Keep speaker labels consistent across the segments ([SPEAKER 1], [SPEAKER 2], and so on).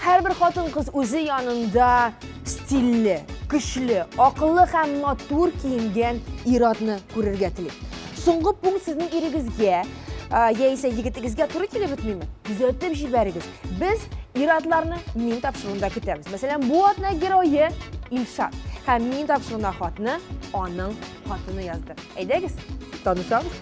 [SPEAKER 1] Һәрбер хатын-кыз үзе янында стильле, көчле, акыллы һәм матур киенгән ир-атны күрергә тели. Соңгы пункт сезнең ирегезгә яисә егетегезгә туры килеп бетмиме? Күзәтеп җибәрегез. Без ир-атларны мин тапшыруында көтәбез. Мәсәлән, бу атна герое Илшат һәм мин тапшыруына хатны аның хатыны язды. Әйдәгез, танышабыз.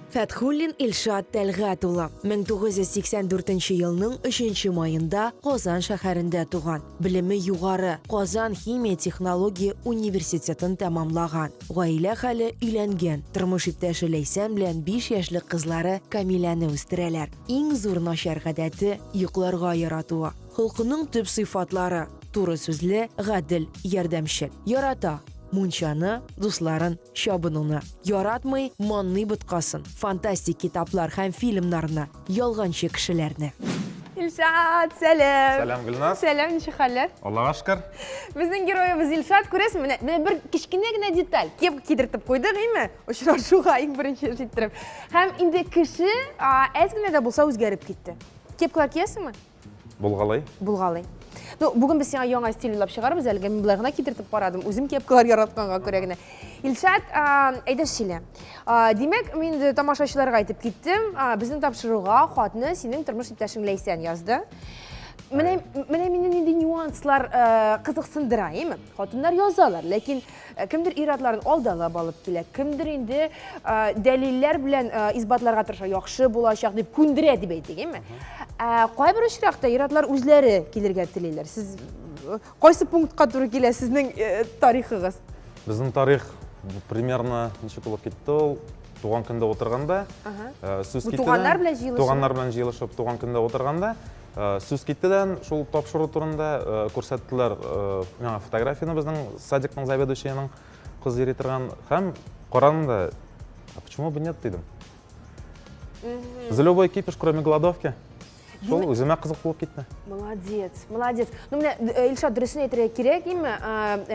[SPEAKER 1] Фәтхуллин Илшат Тәлгат улы 1984 елның 3 маенда Казан шәһәрендә туган. Белеме югары, Казан химия технология университетын тәмамлаган. Гаилә хәле өйләнгән. Тормыш иптәше Ләйсән белән 5 яшьлек кызлары Камиләне үстерәләр. Иң зур начар гадәте йокларга яратуы. Холкының төп сыйфатлары, туры сүзле, гадел, ярдәмчел. Ярата, мунчаны, дусларын, чабынуны. Яратмый, манный боткасын, фантастик китаплар һәм фильмнарны, ялганчы кешеләрне. Илшат, сәлам. Сәлам, Гөлназ. Сәлам,
[SPEAKER 2] ничек хәлләр?
[SPEAKER 1] Аллага шөкер.
[SPEAKER 2] Безнең героебыз
[SPEAKER 1] Илшат, күрәсең, менә менә бер кечкенә генә деталь. Кепка кидертеп куйды, гыйме? Очрашуга иң беренче җиттереп. Һәм инде кеше әз генә дә булса үзгәреп китте. Кепкалар киясеңме? Булгалый.
[SPEAKER 2] Булгалый.
[SPEAKER 1] Ну, бүген без сиңа яңа стиль уйлап чыгарбыз әлегә. Мин болай гына китертеп карадым. Үзем кепкалар яратканга күрә генә. Илшат, әйдә шиле. Димәк, мин инде тамашачыларга әйтеп киттем. Безнең тапшыруга хатны синең тормыш иптәшең Ләйсән язды. Менә менә мине нинди нюанслар кызыксындыра, әйеме? Хатыннар язалар, ләкин Ә кемдер ир-атларын алдалап алып килә, кемдер инде дәлилләр белән исбатларга тырыша, яхшы булачак дип күндерә дип әйтик, әйме? Ә кайбер очракта ир-атлар үзләре килергә телиләр. Сез кайсы пунктка туры килә сезнең тарихыгыз? Безнең тарих
[SPEAKER 2] примерно ничек булып китте ул? Туган көндә утырганда, сүз китте. Туганнар белән җыелышып. Туганнар
[SPEAKER 1] белән җыелышып,
[SPEAKER 2] туган көндә утырганда Э, сүз китте дә шул тапшыру турында э, күрсәттеләр э, миңа фотографияны безнең садикның заведующийның кыз йөри торган һәм карадым да а почему бы нет дидем за любой кипиш кроме голодовки шул үземә кызык булып китте молодец
[SPEAKER 1] молодец ну менә илшат дөресен әйтергә кирәк име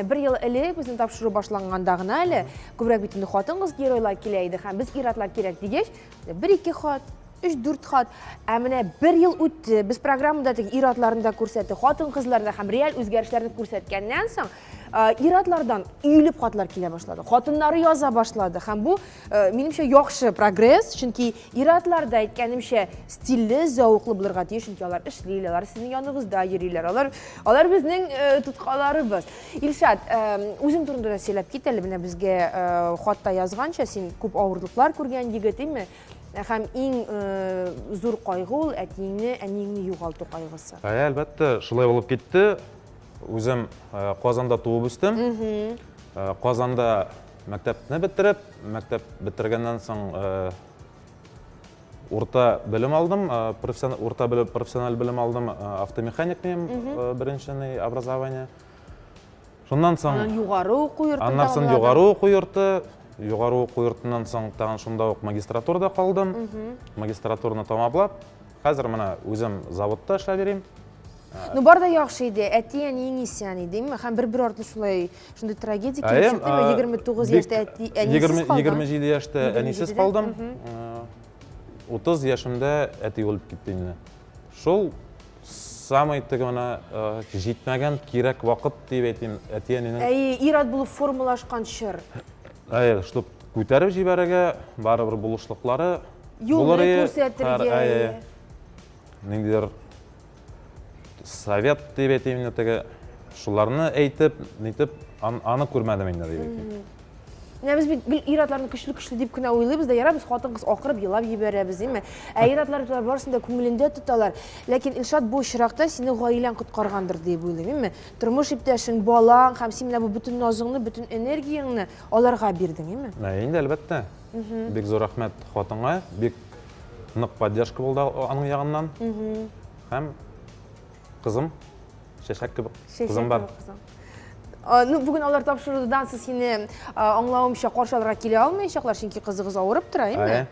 [SPEAKER 1] бер ел элек безнең тапшыру башланганда гына әле күбрәк бит инде хатын кыз геройлар килә иде һәм без ир-атлар кирәк дигәч Бер-ике хат, өч-дүрт хат. Ә менә бер ел үтте, без программада теге ир-атларны да күрсәттек, хатын-кызларны да һәм реаль үзгәрешләрне күрсәткәннән соң, ир-атлардан өелеп хатлар килә башлады. Хатыннары яза башлады һәм бу, минемчә, яхшы прогресс, чөнки ир-атлар да әйткәнемчә стильле, зәвыклы булырга тиеш, чөнки алар эшли, алар сезнең яныбызда йөриләр, алар, алар безнең тоткаларыбыз. Илшат, үзең турында да сөйләп кит әле, менә безгә хатта язганча, син күп авырлыклар күргән егет, име? Һәм иң зур кайгы ул әтиеңне, әниеңне югалту кайгысы. Ә, әлбәттә, шулай
[SPEAKER 2] булып китте. Үзем Казанда туып үстем. Казанда мәктәпне бетереп, мәктәп бетергәннән соң Урта белем алдым, урта белем, профессиональ белем алдым, автомеханик мем, беренченый образование. Шуннан соң... Аннан югары уку йорты
[SPEAKER 1] Аннан соң югары уку
[SPEAKER 2] йорты, югары уку йортынан соң тагын шунда ук магистратурада калдым. Магистратураны тамаплап, хәзер менә үзем заводта эшләп йөрим. Ну бар да
[SPEAKER 1] яхшы иде, әти әниең исән иде, димме? Һәм бер-бер артлы шулай шундый трагедия килеште, 29 яшьтә әти әнисез калдым. 27 яшьтә әнисез
[SPEAKER 2] калдым. 30 яшемдә әти үлеп китте инде. Шул самый теге менә җитмәгән кирәк вакыт дип әйтим, әти әнинең. Әй, ират булып
[SPEAKER 1] формалашкан чор. Әй, шул
[SPEAKER 2] күтәреп җибәрергә, барыбер булышлыклары булыр иде. Юлны
[SPEAKER 1] күрсәтергә.
[SPEAKER 2] Ниндидер совет дип әйтим инде теге шуларны әйтеп нитеп аны күрмәдем инде дип әйтим менә без бит
[SPEAKER 1] гел ир атларны көчле көчле дип кенә уйлыйбыз да ярар без хатын кыз акырып елап җибәрәбез димме ә ир атлар барысын да күңелендә тоталар ләкин илшат бу очракта сине гаиләң коткаргандыр дип уйлыйм имме тормыш иптәшең балаң һәм син менә бу бөтен назыңны бөтен энергияңне аларга бирдең имме ә инде әлбәттә
[SPEAKER 2] бик зур рәхмәт хатынга бик нык поддержка булды аның ягыннан. Һәм кызым чәчәк кебек кызым бар.
[SPEAKER 1] Ну, бүген алар тапшырудан сез сине аңлавымча каршы алырга килә алмаячаклар, чөнки кызыгыз авырып тора, әйме?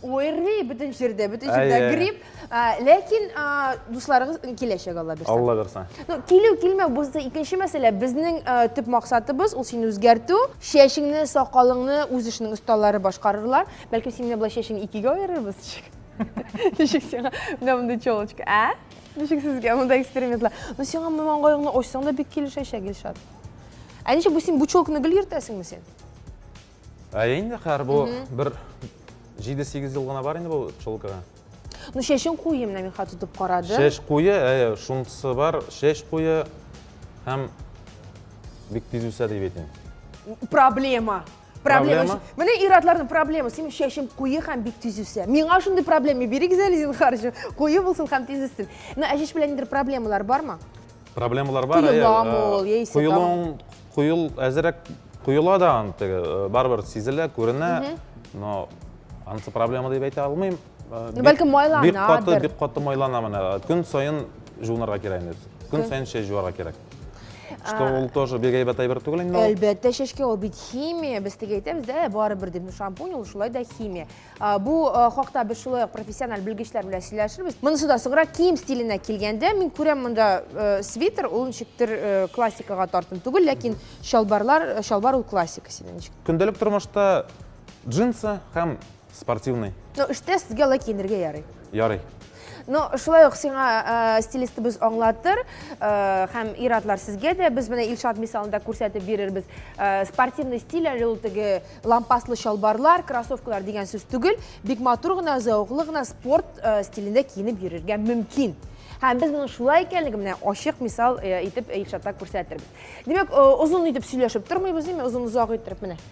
[SPEAKER 1] Уйрый бөтен җирдә, бөтен җирдә грипп. Ләкин дусларыгыз киләчәк Алла бирсә. Алла бирсә. Ну, килү
[SPEAKER 2] килмәү бу
[SPEAKER 1] икенче мәсьәлә. Безнең төп максатыбыз ул сине үзгәртү. Чәчеңне, сакалыңны үз эшенең осталары башкарырлар. Бәлки син менә болай чәчен икегә аерырбыз ничек? Ничек сиңа менә мондый челочка, ә? Ничек сезгә монда экспериментлар? Ну сиңа моны маңгаеңны ачсаң да бик килешәчәк, Илшат. Ә ничек бу син бу челканы гел йөртәсеңме син? Ә
[SPEAKER 2] инде хәр бу бер 7-8 ел гына бар инде бу челкага. Ну чәчең
[SPEAKER 1] куе менә мин хәтер тотып карадым. Чәч куе, әйе,
[SPEAKER 2] шунысы бар, чәч куе һәм бик тиз үсә дип әйтим. Проблема.
[SPEAKER 1] проблема менә ир атларның проблемасы синең чәчең куе һәм бик тиз үсә миңа шундый проблема бирегез әле зинһар куе булсын һәм тиз үссен мына әҗеш белән нидер проблемалар бармы проблемалар бар
[SPEAKER 2] коеламы ул яисә коелуың коел әзерәк коела да аны теге э, барыбер сизелә күренә но анысы проблема дип әйтә алмыйм э, ну бәлкем майланадыр
[SPEAKER 1] бик каты бик каты майлана
[SPEAKER 2] менә көн саен жуынырга кирәк инде көн саен чәч жуарга кирәк Что ул тоже бик әйбәт әйбер түгел инде. Әлбәттә, чәчкә ул бит
[SPEAKER 1] химия. Без теге әйтәбез дә, барыбер дип шампунь ул шулай да химия. Бу хакта без шулай профессиональ белгечләр белән сөйләшербез. Монысы да сыгра кием стиленә килгәндә, мин күрәм монда свитер, ул ничектер классикага тартым түгел, ләкин чалбарлар, чалбар ул классика синең ничек? Көндәлек тормышта
[SPEAKER 2] джинсы һәм Спортивный. Ну, эштә сезгә
[SPEAKER 1] алай киенергә ярый. Ярый.
[SPEAKER 2] Ну,
[SPEAKER 1] шулай ук сиңа э, стилистыбыз аңлатыр, э, һәм иратлар сезгә дә без менә Илшат мисалында күрсәтеп бирербез. Э, спортивный стиль әле ул теге лампаслы чалбарлар, кроссовкалар дигән сүз түгел, бик матур гына, зәвыклы гына спорт э, стилендә киенеп йөрергә мөмкин. Һәм без моның шулай икәнлеген менә ачык мисал э, итеп Илшатта күрсәтербез. Димәк, э, озын итеп сөйләшеп тормыйбыз, димәк, озын-озак иттереп менә.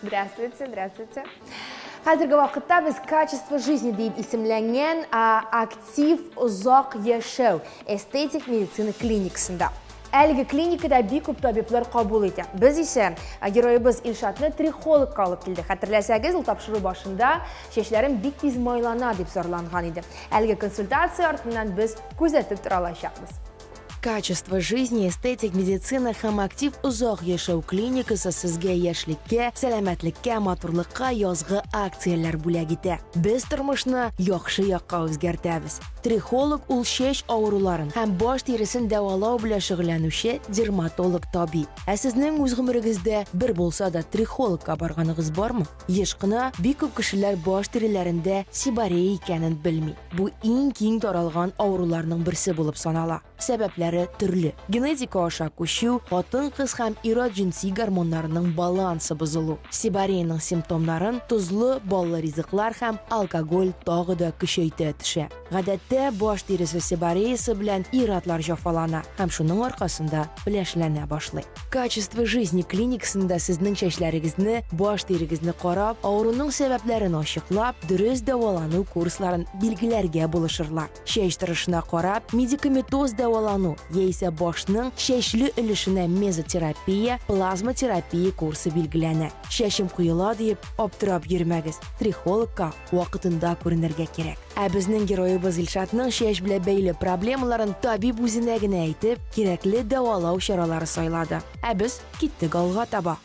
[SPEAKER 1] Здравствуйте, здравствуйте. Хәзерге вакытта без качество жизни дип исемләнгән актив озак яшәү эстетик медицина клиникасында. Әлеге клиникада бик күп табиблар кабул итә. Без исә героебыз Илшатны трихологка алып килдек. Хәтерләсәгез, ул тапшыру башында чәчләрем бик тиз майлана дип зарланган иде. Әлеге консультация артыннан без күзәтеп тора алачакбыз. качество
[SPEAKER 3] жизни эстетик медицина һәм актив озак яшәү клиникасы сезгә яшьлеккә сәламәтлеккә матурлыкка язгы акцияләр бүләк итә без тормышны яхшы якка үзгәртәбез трихолог ул чәч авыруларын һәм баш тиресен дәвалау белән шөгыльләнүче дерматолог табиб ә сезнең үз гомерегездә бер булса да трихологка барганыгыз бармы Еш кына бик күп кешеләр баш тиреләрендә сиборея икәнен белми. Бу иң киң таралган авыруларның берсе булып санала. Сәбәпләре төрле. Генетика аша күчү, хатын-кыз һәм ир-ат җенси гормоннарының балансы бозылу. Сибореяның симптомнарын тозлы, баллы ризыклар һәм алкоголь тагы да көчәйтә төшә. Гадәттә, баш тиресе себореясы белән ир-атлар җафалана һәм шуның аркасында пеләшләнә башлый. Качество жизни клиникасында сезнең чәчләрегезне, баш тирегезне карап, авыруның сәбәпләрен ачыклап, дөрес дәвалану курсларын билгеләргә булышырлар. Чәч торышына карап, медикаметоз дәвалану яисә башның чәчле өлешенә мезотерапия, плазматерапия курсы билгеләнә. Чәчем коела диеп, аптырап йөрмәгез, трихологка вакытында күренергә кирәк. Ә безнең героебыз Илшатның чәч белән бәйле проблемаларын табиб үзенә генә әйтеп, кирәкле дәвалау чаралары сайлады. Ә без киттек алга таба.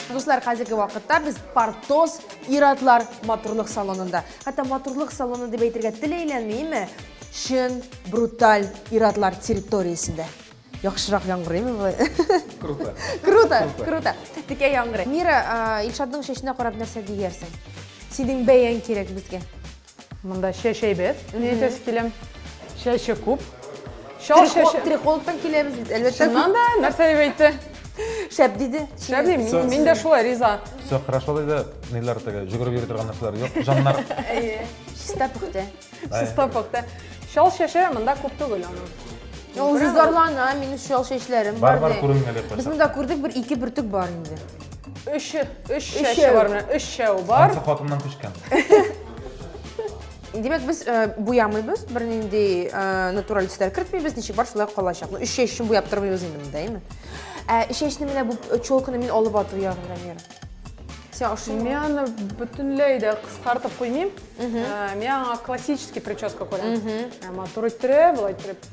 [SPEAKER 1] Дуслар, хәзерге вакытта без Портос иратлар матурлык салонында. Хәтта матурлык салоны дип әйтергә тел әйләнмиме? Чын бруталь иратлар территориясендә. Яхшырак яңгырыймы бу? Круто. Круто, круто. Текә яңгырый. Мира, Илшатның чәченә карап нәрсә диярсең? Синең бәяң кирәк безгә. Монда
[SPEAKER 4] чәч әйбәт, мин әйтәсе киләм. Чәче күп. Чал чәче.
[SPEAKER 1] Трихолыктан киләбез бит, әлбәттә. Чыннан да, нәрсә дип
[SPEAKER 4] әйтте? Шәп диде.
[SPEAKER 1] Шәп дим, мин дә
[SPEAKER 4] шулай риза. Все хорошо диде,
[SPEAKER 2] ниләр теге, жүгереп йөри торган нәрсәләр юк, җаннар. Әйе. Чиста
[SPEAKER 1] пөхтә. Чиста пөхтә.
[SPEAKER 4] Чал чәче монда күп түгел аның. Ул
[SPEAKER 1] зарлана, минем чал чәчләрем бар. Бар, бар, күренмәде. Без монда
[SPEAKER 2] күрдек, бер
[SPEAKER 1] ике бөртек бар инде. Өш,
[SPEAKER 4] өш шәше бар менә, өш шәу бар. Ансы хатыннан күчкән.
[SPEAKER 1] Димәк, без э, буямыйбыз, бер нинди э, натураль төсләр кертмибез, ничек бар шулай калачак. Ну, өш шәшен буяп тормыйбыз инде монда, әйме? Ә өш шәшне менә бу челканы мин алып ату ягын Рамир. Сен ашыйм. Мин аны
[SPEAKER 4] бөтенләй дә кыскартып куймыйм. Э, мин аңа классический прическа күрәм. Матур иттереп, былай иттереп.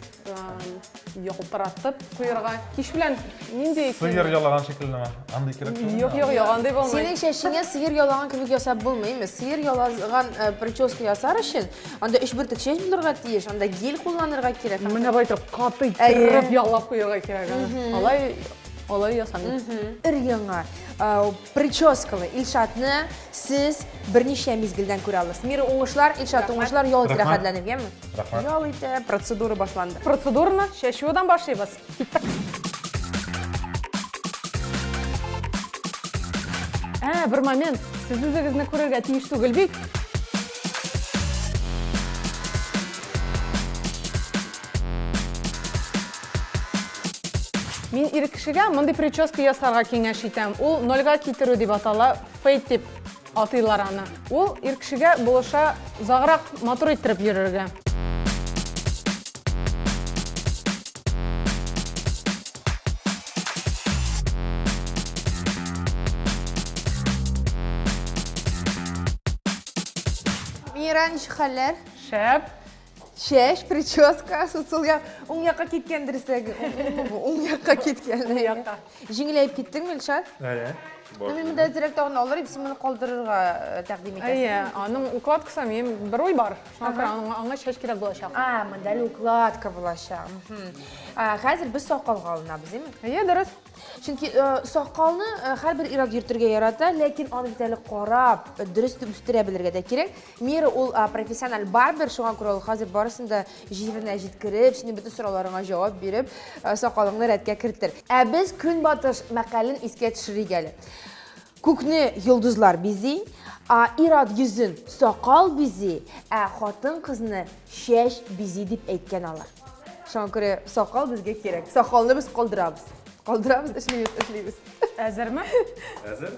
[SPEAKER 4] Ялтыратып куярга. Кич белән нинди Сыер ялаган шикелле
[SPEAKER 2] ме? Андый кирәк түгел. Юк, юк, юк, андый булмый. Синең
[SPEAKER 4] чәчеңә сыер
[SPEAKER 1] ялаган кебек ясап булмый, имеш. Сыер ялаган э, прическа ясар өчен анда өч бөртек чәч булырга тиеш, анда гель кулланырга кирәк. Менә бу итеп каты
[SPEAKER 4] итеп ялап куярга кирәк. Алай алай ясамыйм. Ир яңа
[SPEAKER 1] э, Прическалы Илшатны сез берничә мизгелдән күрә аласыз. Мир уңышлар, Илшат уңышлар, ял итә рәхәтләнеп, яме? Рәхмәт. Ял итә, процедура башланды. Процедураны чәчүдән
[SPEAKER 4] башлыйбыз. Киттек. Ә, бер момент, сез үзегезне күрергә тиеш түгел бит. Мин ир кешегә мондый прическа ясарга киңәш итәм. Ул нольга китерү дип атала, фейт дип атыйлар аны. Ул ир кешегә булыша заграк матур иттереп йөрергә.
[SPEAKER 1] Мира, ничек хәлләр? Шәп.
[SPEAKER 4] Чәч,
[SPEAKER 1] прическа, сусыл як, уң якка киткән дөресрәге. Уң якка киткән. Уң якка. Җиңеләеп киттең, Милшат? Әйе. Ну, мин монда әзрәк тагын алыр идем, син моны калдырырга э, тәкъдим итәсең. Әйе, аның укладкасы,
[SPEAKER 4] мин бер уй бар. Шуңа күрә аңа, аңа чәч кирәк булачак. А, монда әле укладка
[SPEAKER 1] булачак. Хәзер без сакалга алынабыз, димме? Әйе, дөрес. Чөнки
[SPEAKER 4] э,
[SPEAKER 1] сакалны э, һәрбер ир-ат йөртергә ярата, ләкин аны бит әле карап, дөрес итеп үстерә белергә дә кирәк. Мира ул профессиональ барбер, шуңа күрә ул хәзер барысын да җиренә җиткереп, синең бөтен сорауларыңа җавап биреп, э, сакалыңны рәткә кертер. Ә без Көнбатыш мәкален искә төшерик әле. Күкне йолдызлар бизи, а ир-ат йөзен сакал бизи, ә хатын-кызны чәч бизи дип әйткән алар. Шуңа күрә сакал безгә кирәк. Сакалны без калдырабыз. Калдырабыз, эшлибез, эшлибез. Әзерме?
[SPEAKER 4] Әзер.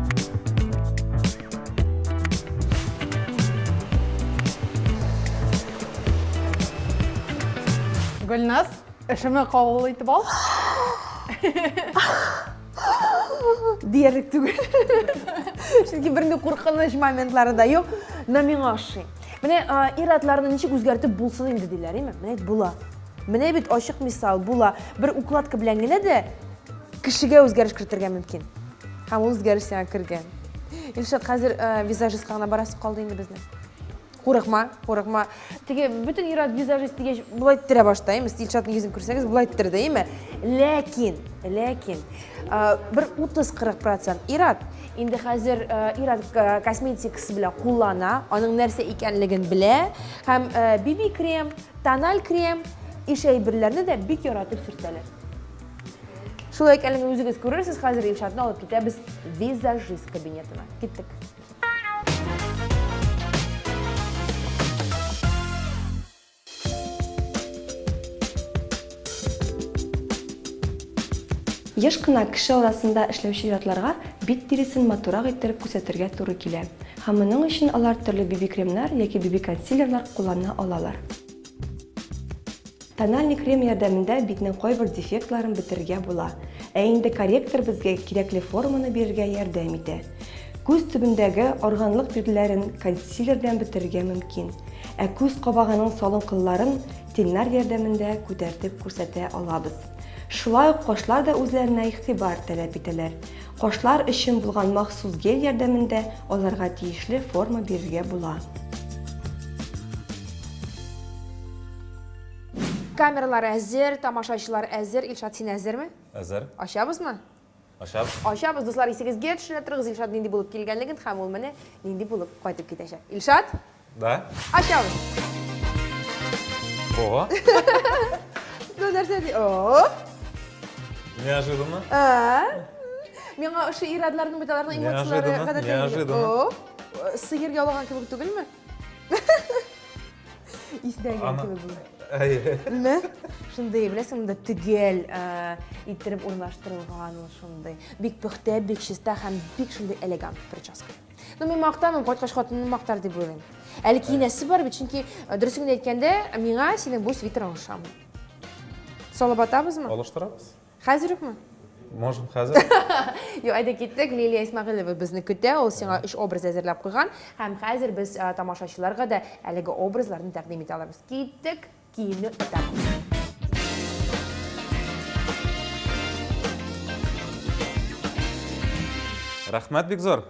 [SPEAKER 4] Гөлназ, эшемә кабул итеп ал.
[SPEAKER 1] Диярлек түгел. Чөнки берни куркыныч моментлары да юк. Менә миңа ошый. Менә ир-атларны ничек үзгәртеп булсын инде диләр, име? Менә була. Менә бит ачык мисал була. Бер укладка белән генә дә кешегә үзгәреш кертергә мөмкин. Һәм ул үзгәрешләргә кергән. Илшат, хәзер э, визажистка гына барасы калды инде безнең. Курыкма, курыкма. Теге бөтен ир-ат визажист дигәч, болай ттерә башта, әйме? Илшатның йөзен күрсәгез, болай ттерде, әйме? Ләкин, ләкин, э, бер 30-40 процент ир-ат инде хәзер э, ир-ат э, косметикасы белән куллана, аның нәрсә икәнлеген белә һәм э, биби-крем, тональ крем, ишәй берләрне дә бик яратып сөртәләр. Шулай икәнлеген үзегез күрерсез, хәзер Илшатны алып китәбез визажист кабинетына. Киттек.
[SPEAKER 5] Еш кына кеше арасында эшләүче ятларга бит тиресен матурак иттереп күрсәтергә туры килә. Һәм моның өчен алар төрле биби-кремнар яки биби-консилерлар куллана алалар. Тональный крем ярдәмендә битнең кайбер дефектларын бетерергә була. Ә инде корректор безгә кирәкле форманы бирергә ярдәм итә. Күз төбендәге органлык бирләрен консилер белән бетерергә мөмкин. Ә күз кабагының салынкылларын теннар ярдәмендә күтәртеп күрсәтә алабыз. Шулай ук кашлар да үзләренә игътибар таләп итәләр. Кашлар өчен булган махсус гель ярдәмендә аларга тиешле форма бирергә була.
[SPEAKER 1] Камералар әзер, тамашачылар әзер. Илшат, син әзерме? Әзер. Ачабызмы? Ачабыз.
[SPEAKER 2] Ачабыз, дуслар,
[SPEAKER 1] исегезгә төшерә торыгыз, Илшат нинди булып килгәнлеген һәм ул менә нинди булып кайтып китәчәк. Илшат? Да?
[SPEAKER 2] Ачам. О.
[SPEAKER 1] Ну, нәрсә ди? О. Неожиданно. А. Миңа ошо ирадларның бит аларның эмоцияләре гадәттә. Неожиданно.
[SPEAKER 2] О. Сыер
[SPEAKER 1] ялаган кебек түгелме? Истәгән кебек бу. Әйе. Шундый, беләсең, монда төгәл иттереп урнаштырылган ул шундый. Бик пөхтә, бик чиста һәм бик шундый элегант прическа. Ну, мин мактамыйм, кайткач хатыным мактар дип уйлыйм. Әле киенәсе бар бит, чөнки э, дөресен генә әйткәндә, миңа синең бу свитерларың ошамый. Салып атабызмы? Алыштырабыз.
[SPEAKER 2] Хәзер үкме?
[SPEAKER 1] Можем хәзер.
[SPEAKER 2] Юк, әйдә
[SPEAKER 1] киттек. Лилия Исмагыйлова безне көтә. Ул сиңа өч образ әзерләп куйган. Һәм хәзер без э, тамашачыларга да әлеге образларны тәкъдим итә алабыз. Киттек. киемне үтәгез.
[SPEAKER 2] Рәхмәт бик зур!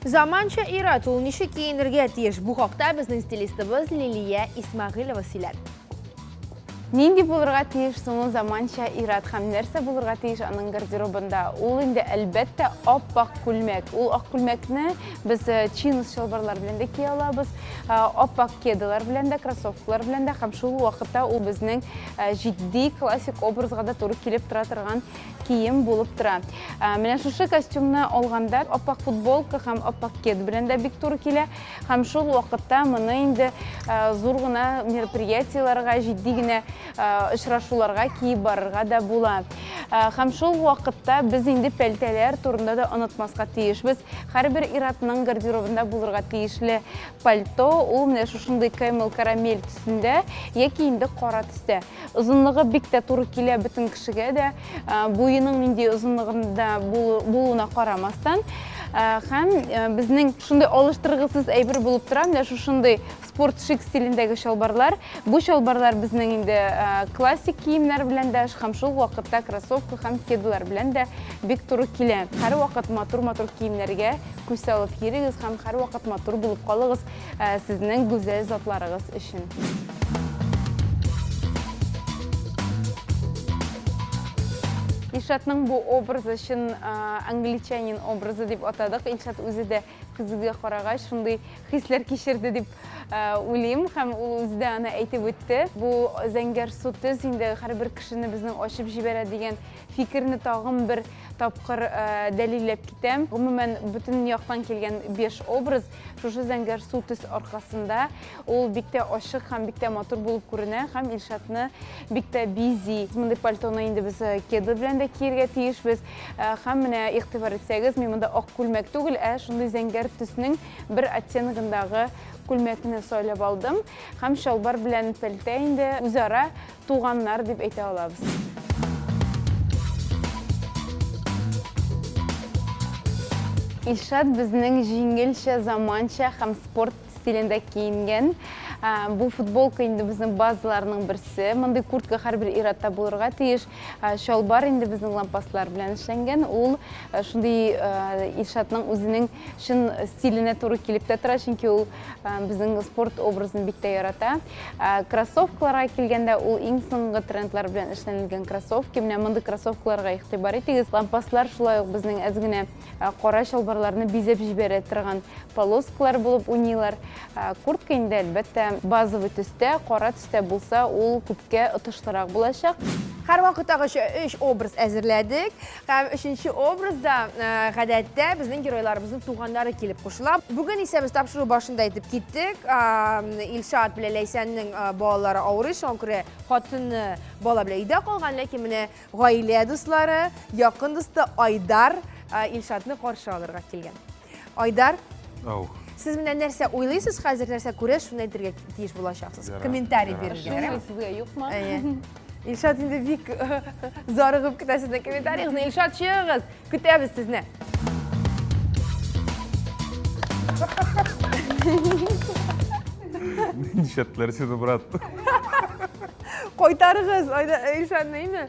[SPEAKER 1] Заманча ир-ат ул ничек киенергә тиеш? Бу хакта безнең стилистыбыз Лилия Исмәгыйлова сөйләде.
[SPEAKER 6] Нинди булырга тиеш соң ул заманча ир-ат һәм нәрсә булырга тиеш аның гардеробында? Ул инде әлбәттә ап-ак күлмәк. Ул ак күлмәкне без э, чинс чалбарлар белән дә кия алабыз, э, ап-ак кедалар белән дә, кроссовкалар белән дә һәм шул вакытта ул безнең э, җитди классик образга да туры килеп тора торган кием булып тора. Менә шушы костюмны алганда ап-ак футболка һәм ап-ак кед белән дә бик туры килә. Һәм шул вакытта моны инде зур гына мероприятиеләргә, җитди генә очрашуларга киеп барырга да була. Һәм шул вакытта без инде пәлтәләр турында да онытмаска тиешбез. Һәрбер иратның гардеробында булырга тиешле пальто, ул менә шушындый кэмел карамель төсендә яки инде кара төстә. Озынлыгы бик тә туры килә бөтен кешегә дә. Буеның нинди озынлыгында булуына карамастан, һәм безнең шундый алыштыргысыз әйбер булып тора, менә шушындый спорт шик стилендәге чалбарлар. Бу чалбарлар безнең инде классик киемнәр белән дә, һәм шул вакытта кроссовка һәм кедалар белән дә бик туры килә. Һәрвакыт матур-матур киемнәргә күз салып йөрегез һәм һәрвакыт матур булып калыгыз. Ә сезнең гүзәл затларыгыз өчен. Илшатның бу образы чын англичанин образы дип атадык. Илшат үзе дә көзгегә карагач шундый хисләр кичерде дип уйлыйм һәм ул үзе дә аны әйтеп үтте. Бу зәңгәр су төз инде һәрбер кешене безнең ачып җибәрә дигән фикерне тагын бер тапкыр дәлилләп китәм. Гомумән, бөтен яктан килгән 5 образ Шушы зәңгәр су төс аркасында ул бик тә ачык һәм бик тә матур булып күренә һәм Илшатны бик тә бизи. Мондый пальтоны инде без э, кеды белән дә киергә тиешбез. Э, һәм менә игътибар итсәгез, мин монда ак күлмәк түгел, ә шундый зәңгәр төснең бер оттеногындагы күлмәкне сайлап алдым. Һәм чалбар белән пәлтә инде үзара Туганнар дип әйтә алабыз. Илшат безнең җиңелчә, заманча һәм спорт стилендә киенгән. Бу футболка инде безнең базаларның берсе. Мондый куртка һәрбер иратта булырга тиеш. Чалбар инде безнең лампаслар белән эшләнгән. Ул шундый Илшатның үзенең Чын стиленә туры килеп тә тора, чөнки ул безнең спорт образын бик тә ярата. Кроссовкаларга килгәндә, ул иң соңгы трендлар белән эшләнелгән кроссовки. Менә мондый кроссовкаларга игътибар итегез. Лампаслар шулай ук безнең әз генә кара чалбарларны бизәп җибәрә торган полоскалар булып уйныйлар. Куртка инде, әлбәттә, базовый төстә, кара төстә булса, ул күпкә отышлырак булачак. Һәрвакыттагыча
[SPEAKER 1] өч образ әзерләдек. Һәм өченче образда, э, гадәттә, безнең геройларыбызның туганнары килеп кушыла. Бүген исә без тапшыру башында әйтеп киттек, Илшат белән Ләйсәннең э, балалары авырый, шуңа күрә хатыны бала белән өйдә калган, ләкин менә гаилә дуслары, якын дусты Айдар э, Илшатны каршы алырга килгән. Айдар, Ау. сез менә нәрсә уйлыйсыз хәзер, нәрсә күрә, шуны әйтергә тиеш булачаксыз. Ярар, Комментарий ярар. бирергә. Шуны ярар? әйтергә юкмы? Әйе.
[SPEAKER 6] Илшат
[SPEAKER 1] инде бик э, зарыгып көтә сезнең комментарийгызны. Илшат, чыгыгыз, көтәбез сезне.
[SPEAKER 2] Нишәтләр сине, брат. Кайтарыгыз,
[SPEAKER 1] Айда- Илшатны, име?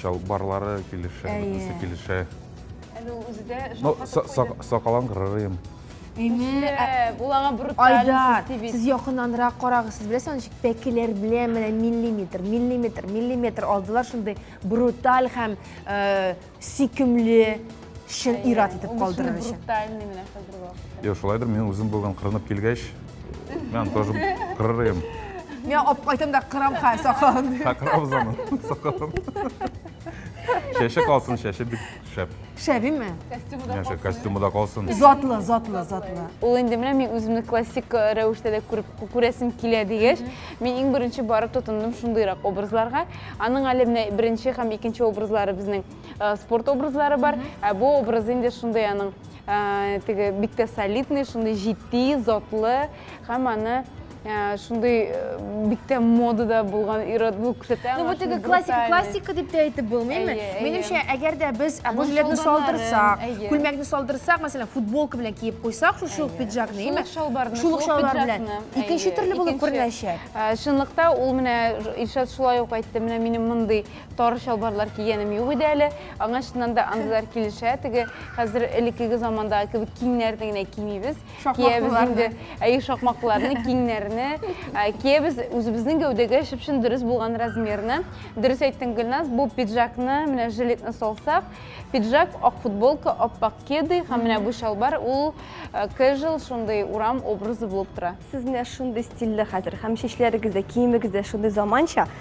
[SPEAKER 7] чалбарлары килешә, Әйе. бөтенесе килешә. Әле ул үзе дә
[SPEAKER 6] Но җанга са- тап са-
[SPEAKER 7] сакалын кырыйм. Әйе. Эшләп,
[SPEAKER 6] ул аңа бруталь Айдар, сести бит.
[SPEAKER 1] сез якыннанрак карагыз, сез беләсез аны ничек пәкеләр белән менә миллиметр, миллиметр, миллиметр алдылар, шундый бруталь һәм э, сөйкемле. шын ир-ат итеп калдырыр өчен. Брутальный менә
[SPEAKER 6] хәзер вакыт. Йо, шулайдыр, мин үзем бүген
[SPEAKER 7] кырынып килгәч, мен тоже кырыр идем. Мин алып
[SPEAKER 1] кайтам да кырам ха сакалын. Ха кырабыз аны,
[SPEAKER 7] сакалын. Чәче калсын, чәче бик шәп. Шәбиме?
[SPEAKER 1] Костюмы да калсын. Костюмы
[SPEAKER 7] да калсын. Затлы, затлы,
[SPEAKER 1] затлы. Ул
[SPEAKER 6] инде менә мин үземне классик э, рәвештә дә күреп күрәсем килә дигәч, мин иң беренче барып тотындым шундыйрак образларга. Аның әле менә беренче һәм икенче образлары безнең Э, спорт образлары бар ә бу образ инде шундый аның э, теге бик тә солидный шундый җитди затлы һәм аны э, шундый бик тә модада булган ирод бу күрсәтә ну бу теге классика
[SPEAKER 1] классика дип тә әйтеп булмыймы минемчә әгәр дә без бу жилетны салдырсак күлмәкне салдырсак мәсәлән футболка белән киеп куйсак шушы ук пиджакны шул ук шалбарны шул ук шалбар белән икенче төрле булып күренәчәк чынлыкта ул
[SPEAKER 6] менә илшат шулай ук әйтте менә минем мондый Тар чалбарлар кигәнем юк иде әле. Аңа чыннан да андыйлар килешә. Теге хәзер элеккеге замандагы кебек киңнәрне генә кимибез. Киябез инде. Әйе, шакмаклыларны, киңнәрне. Киябез үзебезнең гәүдәгә чып-чын дөрес булган размерны. Дөрес әйттең, Гөлназ, бу пиджакны, менә жилетны салсак, пиджак, ак футболка, ап-ак кеды һәм менә бу чалбар, ул casual, шундый урам образы булып тора. Сез менә шундый
[SPEAKER 5] стильле хәзер. Һәм чәчләрегез дә, киемегез дә шундый заманча.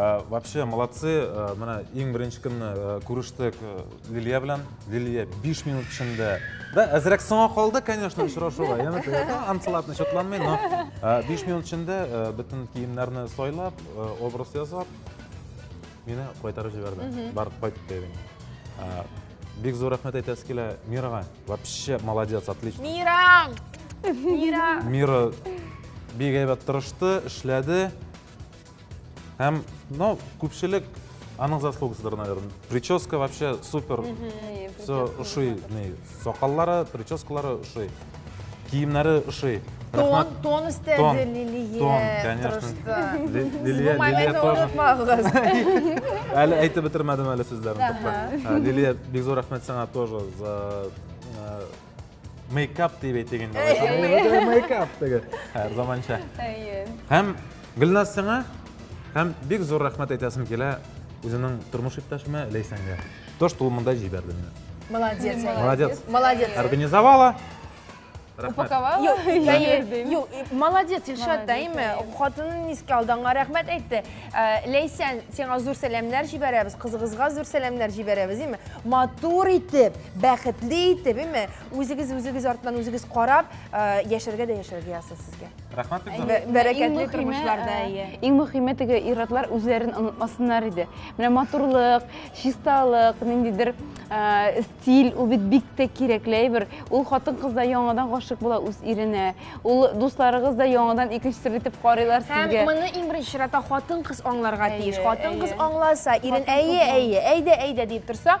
[SPEAKER 2] Э, вообще молодцы э, мына иң беренче көнне э, күрештек лилия белән лилия 5 минут эчендә да әзрәк соңа калды конечно очрашуга яны антлап ничатланмый но 5 минут эчендә бөтен киемнәрне сайлап образ ясап Мине кайтарып җибәрде. Бар, кайт дидем. Бик зур рәхмәт әйтәсе килә Мирага. Вообще молодец, отлично. Мира! Мира! Мира бик әйбәт тырышты, эшләде. Һәм, ну, күпчелек Анын заслугасыдыр, наверное. Прическа вообще супер. Все уши, Сакаллары, прическалары ошый. Киемнәре ошый. Тон, тон
[SPEAKER 1] истәде Лилия. Тон, конечно.
[SPEAKER 2] Лилия, Лилия тоже. Әле әйтеп бетермәдем әле сүзләрне. Лилия, бик зур рәхмәт сиңа тоже за мейкап дип әйтик инде. Әйе, мейкап диге. Һәр заманча. Әйе. Һәм Гөлназ сиңа һәм бик зур рәхмәт әйтәсем килә үзенең тормыш иптәшемә Ләйсәнгә. То, что ул монда җибәрде менә. Молодец. Молодец. Молодец. Организовала.
[SPEAKER 6] Упаковала? Юк,
[SPEAKER 1] юк, молодец, Илшат та, име, хатынын искә алды, аңа рәхмәт әйтте. Э, Ләйсән, сиңа зур сәламнәр җибәрәбез, кызыгызга зур сәламнәр җибәрәбез, име? Матур итеп, бәхетле итеп, име? Үзегез, үзегез артынан үзегез карап, э, яшәргә дә яшәргә язсын сезгә. Рәхмәт бик
[SPEAKER 2] зур. Бәрәкәтле тормышларда,
[SPEAKER 1] әйе. Иң мөхиме
[SPEAKER 6] теге ир-атлар үзләрен онытмасыннар иде. Менә матурлык, чисталык, ниндидер стиль, ул бит бик тә кирәкле әйбер. Ул хатын-кыз да яңадан гашык була үз иренә. Ул дусларыгыз да яңадан икенче төрле итеп карыйлар сезгә. Һәм моны иң беренче
[SPEAKER 1] чиратта хатын-кыз аңларга тиеш. Хатын-кыз аңласа, ирен әйе, әйе, әйдә, әйдә дип торса,